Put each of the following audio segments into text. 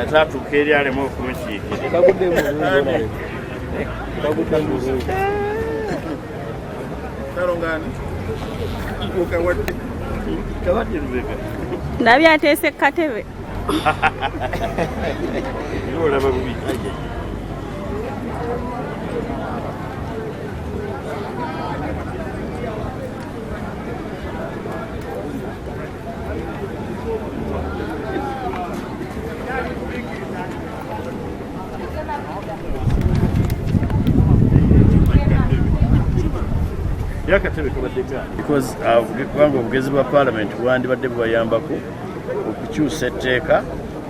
ate atuuka eri alemu okumukiikira ndabye ateese ku katebe olaba bubi yakatebe kabaddekaani because uh, kubanga obugezi bwa palamenti bwandibadde bubayambako okukyusa etteeka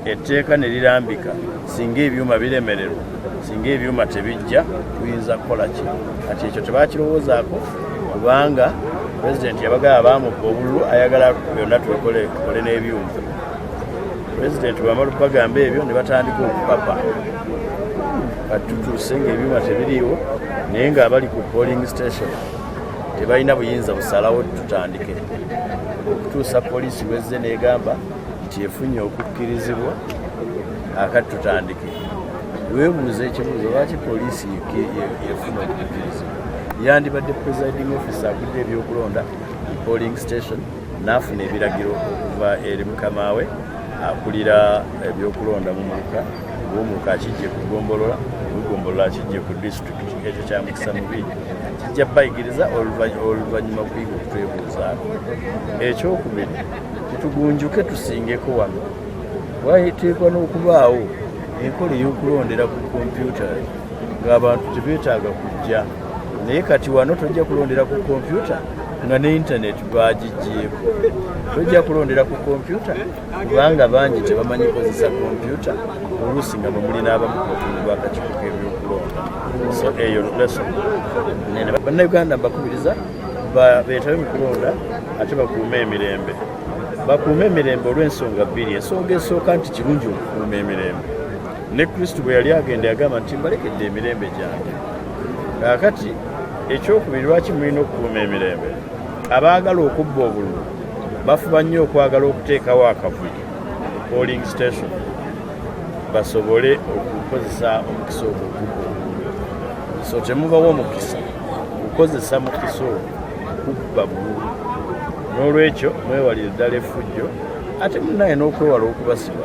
etteeka ne lirambika singa ebyuma biremererwa singa ebyuma tebijja tuyinza kukola ki kati ekyo tebakirowoozaako kubanga pulezidenti yabagala bamubba obululu ayagala byonna tubikole tukole n'ebyuma pulezidenti bwamala okubagamba ebyo ne batandika okupapa kati tutuuse ngaebyuma tebiriiwo naye ng'abali ku polling station tebalina buyinza busalawo tutandike okutuusa poliisi wezze negamba nti efunye okukkirizibwa akati tutandike webuuza ekibuuzo lwaki poliisi yefuna okukkirizibwa yandibadde presiding office agudde ebyokulonda polling station n'afuna ebiragiro okuva eri mukamaawe akulira ebyokulonda mu muluka ng'omuluka akijje ku gombolola ebigombolola kijje ku disitulikiti ekyo kya mukisa mubi kijja bayigiriza oluvannyuma kuyiga okutwebuuzaako ekyokubiri Tugunjuke tusingeko wano wateekwa n'okubaawo enkola ey'okulondera ku kompyuta ng'abantu tebeetaaga kujja naye kati wano tojja kulondera ku kompyuta nga ne intaneti bagigyeko tojja kulondera ku kompyuta kubanga bangi tebamanyi kozesa kompyuta oluusi nga bamuli n'abamu kubakundi bakakiiko k'ebyokulonda so eyo lesson bannayuganda mbakubiriza beetabe mu kulonda ate bakuume emirembe bakuume emirembe olw'ensonga bbiri ensonga esooka nti kirungi okukuuma emirembe ne kristo bwe yali agenda yagamba nti mbalekedde emirembe gyange kaakati ekyokubiri lwaki mulina okukuuma emirembe abaagala okubba obululu bafuba nnyo okwagala okuteekawo akavuyo polling station basobole okukozesa omukisa ogwo so temubawo omukisa kukozesa mukiso kubba bululu n'olwekyo mwewalire ddala efujjo ate munaye n'okwewala okubasiba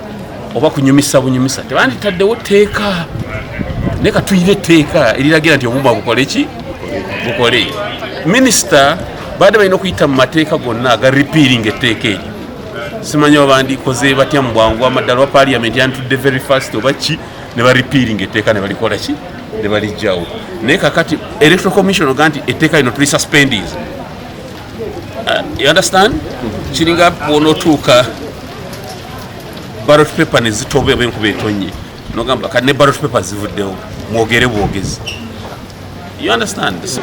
oba kunyumisa bunyumisa tebanditaddewo tteeka naye katuyire etteeka eriragira nti obumba bukole ki bukole minisita baadde balina okuyita mu mateeka gonna aga ripiiringa etteeka eryo simanyi oba bandikoze batya mu bwangu amaddala oba paliamenti yantudde very fast oba ki ne baripiiringa etteeka ne balikola ki ne balijjawo naye kakati electoral commission oga nti etteeka lino tuli suspendis uh, you understand kiringa bwonotuuka ballot paper ne zitoba oba enkuba etonnye nogamba kati ne ballot paper zivuddewo mwogere bwogezi you understand this?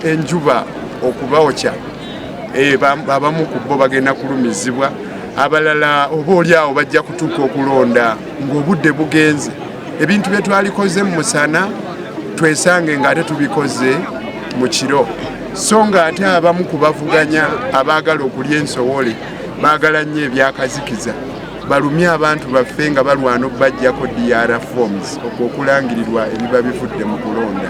enjuba okubawokya eh, abamu ku bo bagenda kulumizibwa abalala oba oli awo bajja kutuuka okulonda ng'obudde bugenze ebintu bye twalikoze mu musana twesange ng'ate tubikoze mu kiro so ng'ate abamu ku bavuganya abaagala okulya ensowole baagala nnyo ebyakazikiza balumye abantu baffe nga balwana okubajjako dr forms okwo okulangirirwa ebiba bivudde mu kulonda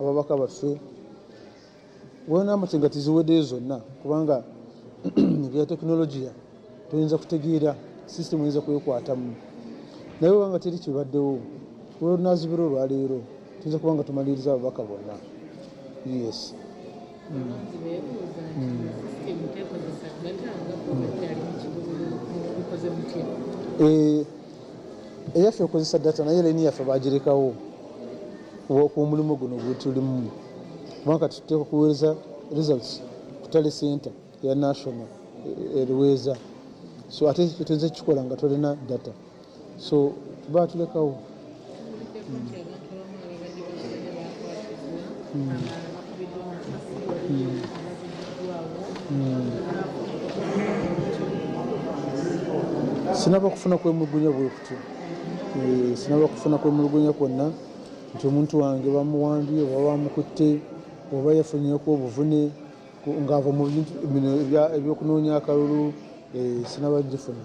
ababaka baffe wenaamatenga tiziwedeyo zonna kubanga ebya tekinologiya toyinza kutegeera sisitemu oyinza kwekwatamu naye obanga teri kibaddewo olwonazibira olwaleero tuyinza kubanga tumaliriza ababaka bonna yes Eh, eyaffe okozesa data naye laini yaffe bagirekawo omulimu guno gwetulimu kubanga tuteeka kuweereza results kutale center ya national eh, eruweeza so ate tuinza kukikola nga tolina data so baatulekawo sinaba kufuna kwemulugunya bwekuti eh, sinaba kufuna kwemulugunya kwonna nti omuntu wange bamuwambye oba bamukutte oba yafunyeko obuvune ng'ava mu bintu bino ebyokunoonya akalulu eh, sinaba gifuna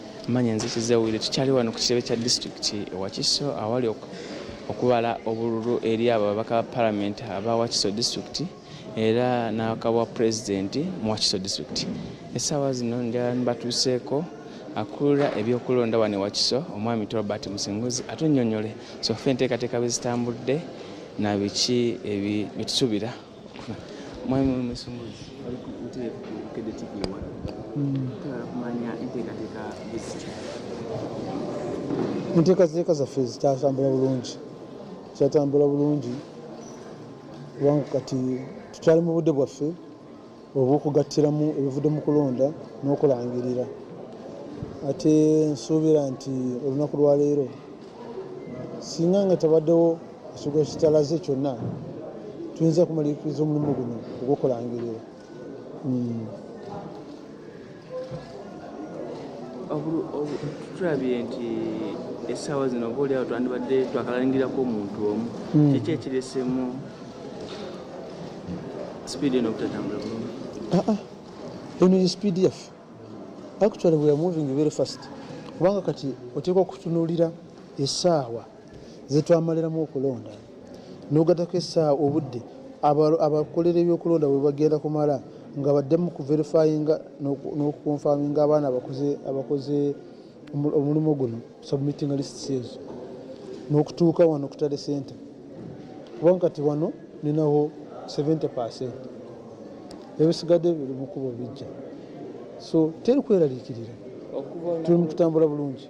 Manya nze Kizewire, tukyali wano ku kitebe kya disitulikiti e Wakiso awali okubala obululu eri abo ababaka ba palamenti aba Wakiso disitulikiti era n'akabwa pulezidenti mu Wakiso disitulikiti. Essaawa zino njala nibatuuseeko akulira ebyokulonda wano e Wakiso omwami Robert Musinguzi atunnyonnyole sofa enteekateeka bwe zitambudde na biki bye tusuubira. mwami omusumbuzi enteekateeka zaffe zikyatambula bulungi kyatambula bulungi kubanga kati tukyali mu budde bwaffe obw'okugattiramu ebivudde mu kulonda n'okulangirira ate nsuubira nti olunaku lwaleero singa nga tabaddewo ekigo kitalaze kyonna tuyinza kumaliriza omulimu guno ogw'okulangirira hmm. tulabye nti essaawa zino oba oliawo twandibadde twakalaningirako omuntu omu hmm. kiki ekiresemu sipiidi eno obutatambula bulungi ah, ah. eno ye sipiidi yaffe actually we are moving very fast kubanga kati oteekwa okutunuulira essaawa zetwamaliramu okulonda nogatako esaawa obudde abakolera ebyokulonda bwebagenda kumala nga baddemu kuverifyinga nokukonfaminga abaana abakoze omulimu guno submitting lists ezo nokutuuka wano kutale center kubanga kati wano ninawo 70 percent ebisigadde biri mukubo bijja so teri kweraliikirira tuli mukutambula bulungi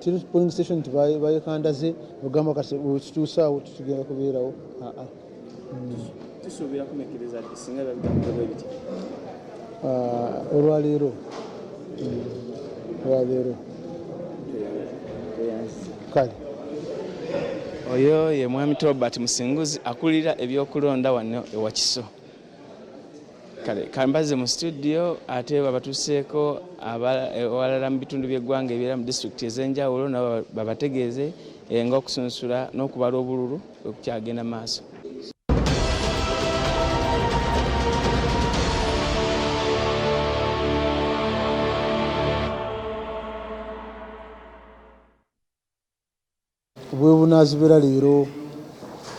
kiri polling station nti bayekandaze ogamba kati kituusaawo tutugenda kubeerawo aa tusuubira kumekiriza ti singa babitambulebwa ebiti olwaleero olwaleero kale oyo ye mwami tobert musinguzi akulira ebyokulonda wano ewakiso kale kambaze mu studio ate babatuseeko ewalala mu bitundu by'eggwanga ebiera mu disitulikiti ez'enjawulo nabo babategeeze eh, nga okusunsula n'okubala obululu okukyagenda maaso Bwebunazibera leero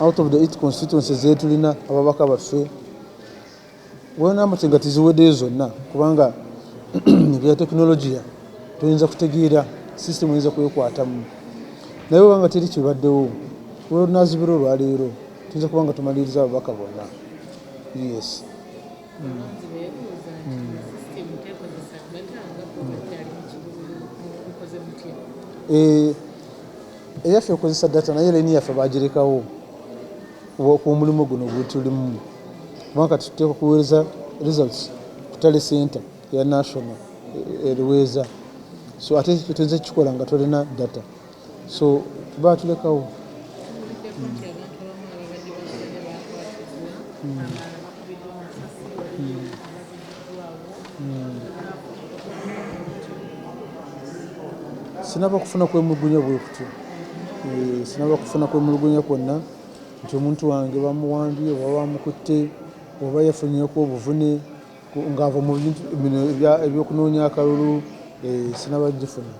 out of the eight constituency zetulina ababaka baffe well number kyenga teziwedeyo zonna kubanga ebya technologia toyinza kutegeera system oyinza kwekwatamu naye webanga teri kibaddewo well nazibera olwaleero tuyinza kubanga tumaliriza ababaka bonna yes Eh, eyaffe ekozesa data naye laini yaffe bagirekawo omulimu guno gwetulimu kubanga kati tuteeka kuweereza results kutale center ya national eh, eruweeza so ate tutenze kukikola nga tolina data So baatulekawo. Tuvuddeko nti abantu abamu ababadde basaze baakwatiddwa, abalala bakubiddwa amasasi, waliyo abazibiddwaawo Sinaba kufuna kwemulugunya bwe kutyo. Eeh, sinaba kufuna kwemulugunya kwonna nti omuntu wange bamuwambye oba bamukutte oba yafunyeeko obuvune ng'ava mu bintu bino eby'okunoonya akalulu. Eeh, sinaba kugifuna.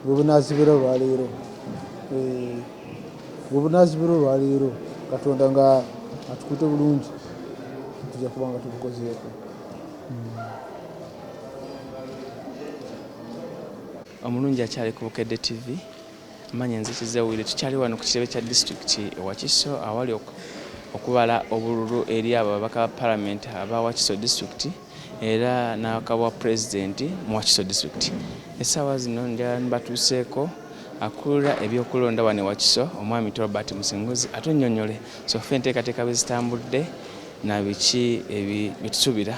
bwebunazibira olwaleero eh, bwebunazibira olwaleero katonda nga atukute bulungi tujja kuba nga tubukozeeko omulungi akyali ku bukedde tv Manya nze Kizza Willy tukyali wano ku kitebe kya disitulikiti e Wakiso awali okubala obululu eri abo ababaka ba palamenti aba Wakiso disitulikiti era n'akabwa pulezidenti mu Wakiso disitulikiti. Essaawa zino batuuseeko akulira ebyokulonda wano e Wakiso omwami Tolbert Musinguzi atunnyonnyole sofa enteekateeka bwe zitambudde na biki bye tusubira.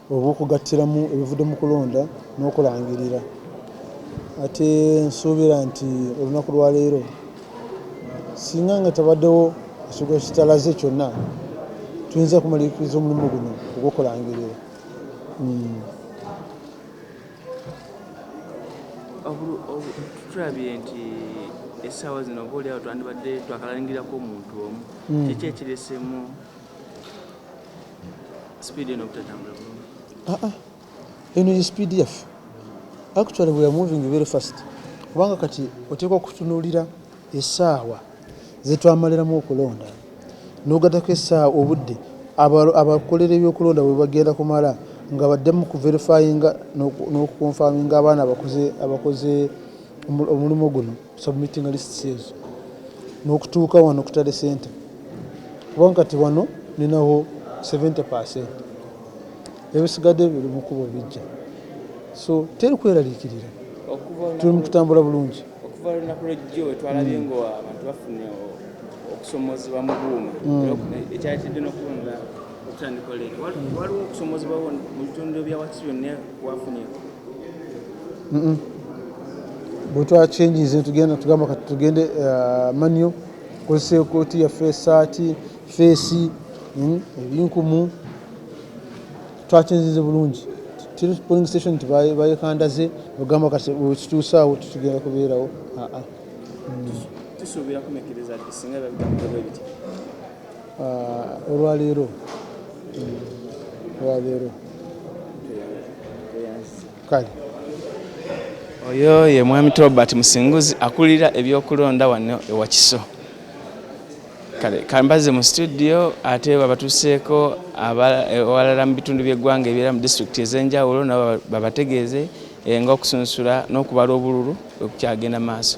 obw'okugattiramu ebivudde mu kulonda n'okulangirira ate nsuubira nti olunaku lwa leero singa nga tebaddewo ekigo kitalaze kyonna tuyinza kumaliriza omulimu guno ogw'okulangirira hmm. tulabye nti essaawa zino oba oliawo twandibadde twakalangirako omuntu omu hmm. kiki ekiresemu Speed eno butatambula bulungi. Ah ah. Eno ye speed yaffe. Actually we are moving very fast. Kubanga kati oteekwa okutunuulira essaawa zetwamaliramu okulonda n'ogatako essaawa obudde abakolera ebyokulonda bwe bagenda kumala nga baddemu ku verifyinga n'okukonfaminga abaana abakoze omulimu guno. submitting lists ezo nokutuuka wano kutale center kubanga kati wano ninawo 70 percent ebisigadde biri mukubo bijja so teri kweraliikirira tuli mukutambula bulungi okuva lunaku lwejjo wetwalabye mm. nga abantu bafune okusomozebwa mu buuma mm. ekyatidde nokubonera okutandika olero waliwo okusomozebwawo mu bitundu byawakisi byonna wafunye bwetwa changes tugenda tugamba kati tugende uh, manyo kozesa ekooti yaffe esaati feesi hmm, ebinkumu twakyenzize bulungi polling station nti bayekandaze ogamba kati wekituusaawo tetugenda kubeerawo aa ah, ah. hmm. Uh, olwaleero olwaleero kale oyo ye mwami tobert musinguzi akulira ebyokulonda wano ewakiso kale kambaze mu studio ate babatuseeko ewalala mu bitundu by'eggwanga ebiera mu disitulikiti ez'enjawulo nabo babategeeze eh, nga okusunsula n'okubala obululu okukyagenda maaso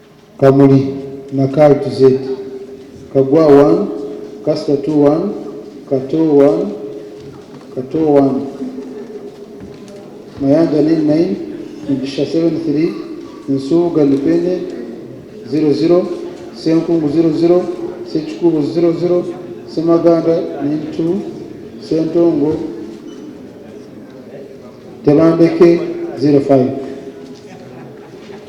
Kamuli na cult ze. Kagwa one, Kasta two one, Kato one, Kato one, Mayanja nine nine, Mugisha seven three, Nsuuga Lipende zero zero, Senkungu zero zero, Sekikubo zero zero, Semaganda nine two, Sentongo Tebandeke zero five.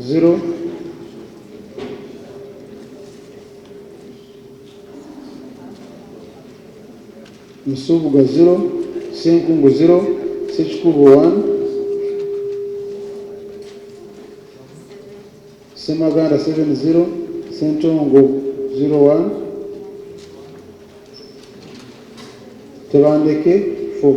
zero Nsubuga zero Senkungu zero Sekikubo one Semaganda seven zero Sentongo zero one Tebandeke four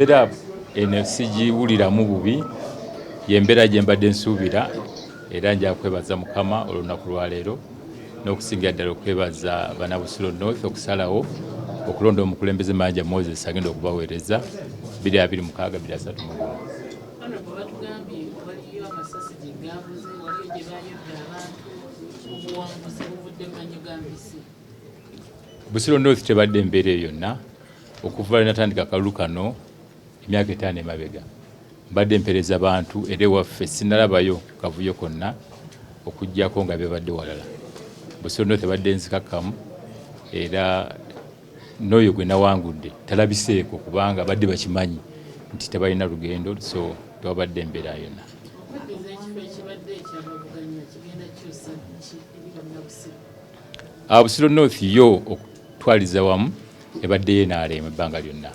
era eno sigiwuliramu bubi yembeera gye mbadde nsuubira era nja kwebaza mukama olunaku lwaleero n'okusingira ddala okwebaza bana busulo north okusalawo okulonda omukulembeze manja moses agenda okubaweereza 226 Busiro North tebadde embeera eyo yonna okuva lwe natandika akalulu kano emyaka etaano emabega mbadde mpereza bantu era ewaffe sinalabayo kavuyo konna okujjako nga bebadde walala Busiro North ebadde nzikakkamu era Noyo gwenawangudde talabiseeko kubanga badde bakimanyi nti tebalina lugendo so tewabadde mbeera yona. Ah, Busiro North yo okutwaliza wamu ebaddeyo enaaleema ebbanga lyonna.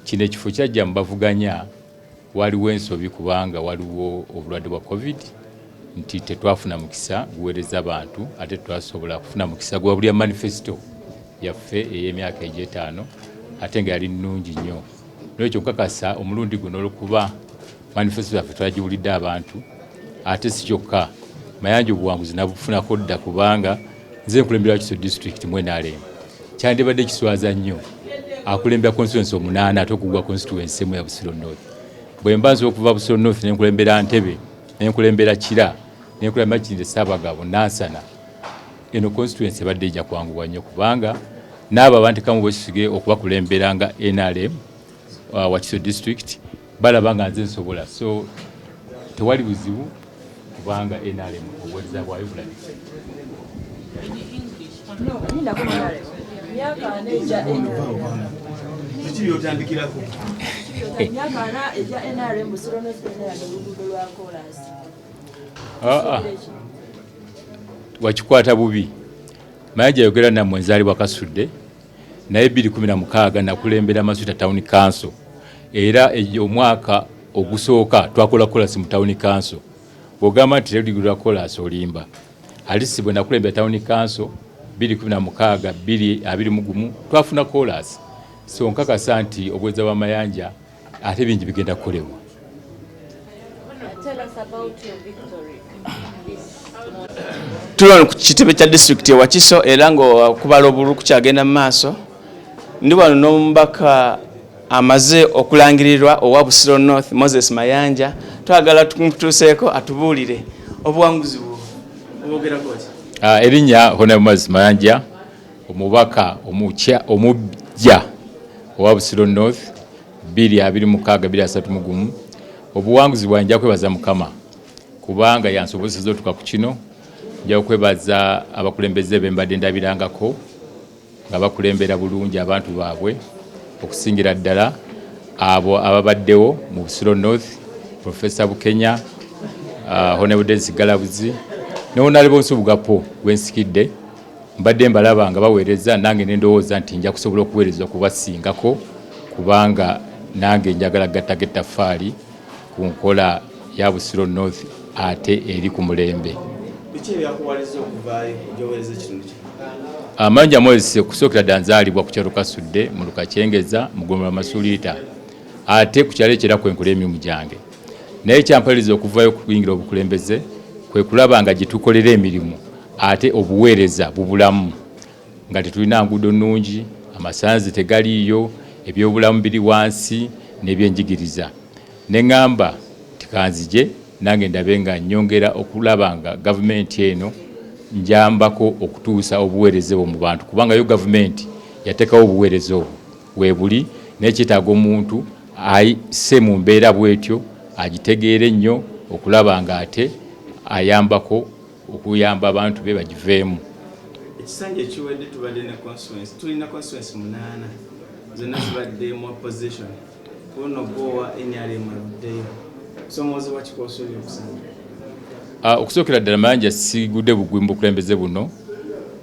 Kino ekifo kyajja mu bavuganya Waliwo ensobi kubanga waliwo obulwadde bwa covid nti tetwafuna mukisa guweereza bantu ate twasobola kufuna mukisa gwa bulya manifesito yaffe ey'emyaka egy'etaano ate nga yali nnungi nnyo nolwekyo nkakasa omulundi guno olwokuba manifesito yaffe twagiwulidde abantu ate si kyokka mayanja obuwanguzi nabufunako dda kubanga Nze nkulembera Wakiso district mu NRM. Kyandibadde kiswaza nnyo akulembera constituency omunaana ate okugwa constituency emu ya Busiro North. Bwe mba nsobola okuva Busiro North ne nkulembera Ntebe, ne nkulembera Kira, ne nkulembera Makindye Ssaabagabo, Nansana, eno constituency ebadde ejja kwanguwa nnyo kubanga n'abo abantekamu bwesige okubakulembera nga NRM uh, wakiso district balaba nga nze nsobola so tewali buzibu kubanga nrm obuwereza bwayo bulabise wakikwata bubi maye gyayogera namwe nzaalibwa kasudde naye 2016 nakulembera Masuta Town Council era ejo omwaka ogusooka twakola kolasi mu Town Council bwogamba nti teligula kolasi olimba alisi bwe nakulembera Town Council 2016 2021 twafuna kolasi so nkakasa nti obweza bwa Mayanja ate bingi bigenda kukolebwa tuli wano ku kitebe kya disitulikiti e wakiso era ngaokubala obululu kukyagenda mu maaso ndi wano n'omubaka amaze okulangirirwa owa busiro north moses mayanja twagala tumutuuseeko atubuulire obuwanguzi bwo obogerako ah, erinnya honamoses mayanja Omubaka omukya omuggya owa Busiro North bbiri abiri mukaaga bbiri asatu mugumu obuwanguzi bwange nja kwebaza Mukama kubanga yansobozesa otuka ku kino nja okwebaza abakulembeze be mbadde ndabirangako nga bakulembera bulungi abantu baabwe okusingira ddala abo ababaddewo mu Busiro North Professor Bukenya uh, Honorable Dennis Galabuzi ne Honorable Nsubugapo gwensikidde Mbadde mbalaba nga baweereza nange ne ndowooza nti nja kusobola okuweereza okubasingako kubanga nange njagala kugattako ettaffaali ku nkola ya Busiro North ate eri ku mulembe. Biki ebyakuwaliza okuvaayo gy'oweereza ekitundu kino? Amangi amwezise okusookera ddala nzaalibwa ku kyalo Kasudde mu Lukakyengeza mu ggombolola Masuliita ate ku kyalo ekyo era kwe nkola emirimu gyange naye ekyampaliriza okuvaayo okuyingira obukulembeze kwe kulaba nga gye tukolera emirimu ate obuweereza bubulamu nga tetulina nguudo nnungi, amasannyalaze tegaliiyo, ebyobulamu biri wansi n'ebyenjigiriza ne ng'amba nti kanzije nange ndabe nga nnyongera okulaba nga gavumenti eno njambako okutuusa obuweereza obwo mu bantu kubanga yo gavumenti yateekawo obuweereza obwo weebuli naye kyetaaga omuntu ayise mu mbeera bwetyo agitegeere nnyo okulaba ng'ate ayambako okuyamba abantu be bagiveemu. Ekisanja ekiwedde tubadde ne constituency tulina constituency munaana zonna zibadde mu opposition kuno gwowa NRM aluddeyo kusomooza wa kikosuubya okusanga ah, okusookera ddala mayanja sigudde bugwi mu bukulembeze buno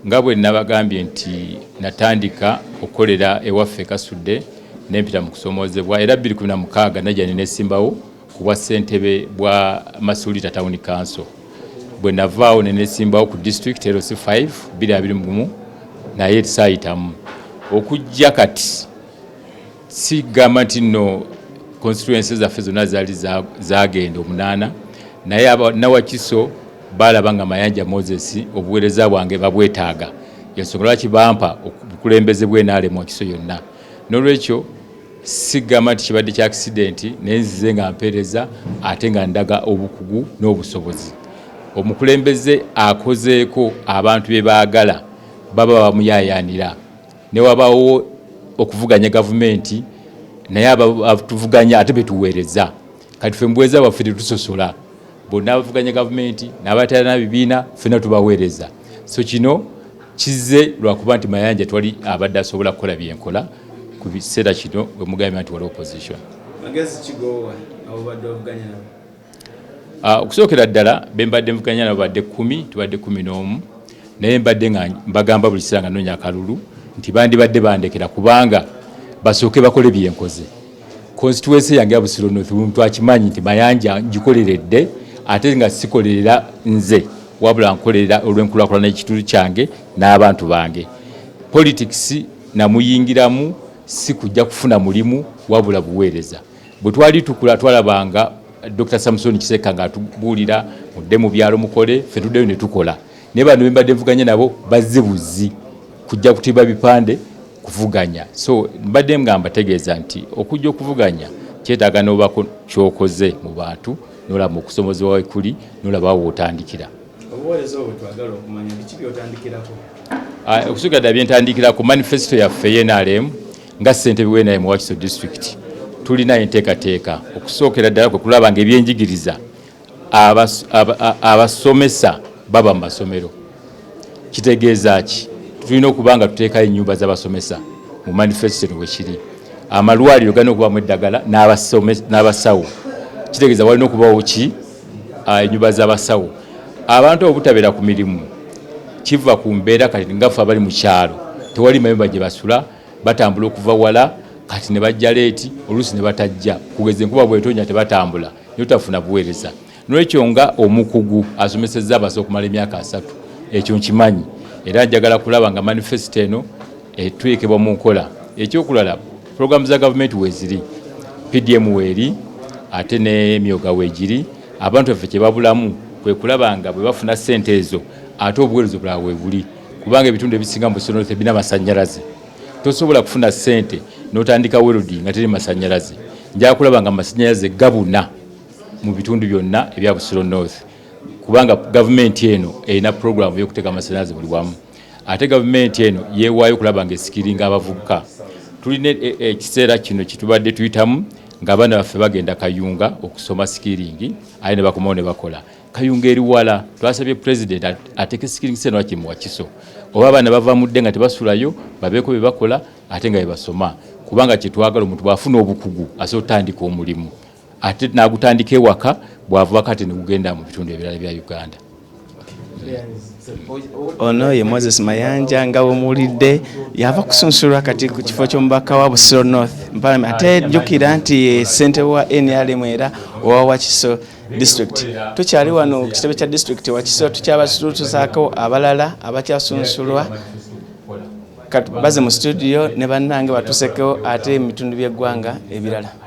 nga bwe nabagambye nti natandika okukolera ewaffe kasudde nempita mu kusomoozebwa era 26 najja nenesimbawo Ku bwa ssentebe bwa Masuulita Town Council bwe navaawo ne neesimbawo ku disitulikiti LC 5 bbiri abiri mu gumu naye saayitamu okujja kati sigamba nti nno constituency zaffe zonna zaali zaagenda omunaana naye abanawakiso baalaba nga mayanja moses obuweereza bwange babwetaaga yensonga lwaki bampa obukulembeze bwenaalemu wakiso yonna n'olwekyo Sigamba nti kibadde kya akisidenti naye nzize nga mpeereza ate nga ndaga obukugu n'obusobozi. Omukulembeze akozeeko abantu bye baagala baba bamuyaayaanira ne wabaawo okuvuganya gavumenti naye abatuvuganya ate be tuweereza. Kati ffe mu buweereza bwaffe tetusosola, bonna abavuganya gavumenti n'abatalina bibiina ffenna tubaweereza. So kino Kizze lwakuba nti Mayanja twali abadde asobola kukola byenkola ku biseera kino bwe mugambye nti wali opposition. Magezi kigoowa abo badde ovuganya nabo? Ah, okusookera ddala be mbadde mvuganya nabo badde kkumi tubadde kkumi n'omu naye mbadde nga mbagamba buli kiseera nga noonya akalulu nti bandibadde bandekera kubanga basooke bakole byenkoze. Konsituwensi yange ya Busiro North buli muntu akimanyi nti Mayanja ngikoleredde ate nga sikolerera nze wabula nkolerera olw'enkulaakulana y'ekitundu kyange n'abantu bange. Politics namuyingiramu si kujja kufuna mulimu wabula buweereza. Bwe twali tukula twalabanga Dokita Samuson Kisekka ng'atubuulira mudde mu byalo mukole, ffe tuddeyo ne tukola. Naye bano be mbadde nvuganya nabo bazze buzzi kujja kutimba bipande kuvuganya so mbadde nga mbategeeza nti okujja okuvuganya kyetaaga n'obaako kyokoze mu bantu nolaba mu kusomozebwa wekuli nolaba awo wotandikira obuweereza obwo twagala okumanya biki byotandikirako ah, okusukira ddala byentandikira ku manifesito yaffe yenalemu nga ssentebe wenaye mu wakiso disitulikiti tulina enteekateeka okusookera ddala kwe kulaba nga ebyenjigiriza abasomesa baba mu masomero kitegeeza ki tulina okuba nga tuteekayo ennyumba z'abasomesa mu manifesito wekiri amalwaliro galina okubamu eddagala n'abasawo kitegeeza walina okubawo ki ah, ennyumba z'abasawo abantu obutabeera ku mirimu kiva ku mbeera kati ngafe abali mu kyalo tewali mayumba gye basula batambula okuva wala kati ne bajja leeti oluusi ne batajja kugeza enkuba bwetonya tebatambula notafuna buweereza nolwekyo nga omukugu asomesezza abasa okumala emyaka asatu ekyo nkimanyi era njagala kulaba nga manifesito eno etuekebwa mu nkola ekyokulala programu za gavumenti weziri pdm weeri ate nemyoga wegiri abantu baffe kyebabulamu kwe kulaba nga bwe bafuna ssente ezo ate obuweereza obulala webuli kubanga ebitundu ebisinga mu busonoebi namasanyalaze Tosobola kufuna ssente n'otandika welodi nga teri masannyalaze. Nja kulaba nga masannyalaze gabuna mu bitundu byonna ebya Busiro North kubanga gavumenti eno erina pulogulaamu y'okuteeka amasannyalaze buli wamu. Ate gavumenti eno yeewaayo okulaba ng'esikiringa abavubuka. Tulina e, e, ekiseera kino kye tubadde tuyitamu ng'abaana baffe bagenda Kayunga okusoma sikiringi aye ne bakomawo ne bakola. kayunga eri wala twasabye president ateke skilling center waki mu wakiso oba abaana bava mudde nga tebasulayo babeeko bye bakola ate nga bebasoma kubanga kyetwagala omuntu bwafuna obukugu asobola otandika omulimu ate nagutandika ewaka bwava kati negugenda mu bitundu ebirala bya uganda ono ye moses mayanja nga wemuwulidde yava kusunsulwa kati ku kifo ky'omubaka wa busiro north ate jjukira nti ye ssente wa nrm era owawakiso district tukyali wano ku kitebe kya district wakisira tukyabasutusaako abalala abakyasunsulwa baze mu situdiyo ne bannange batusekewo ate emitundu by'eggwanga ebirala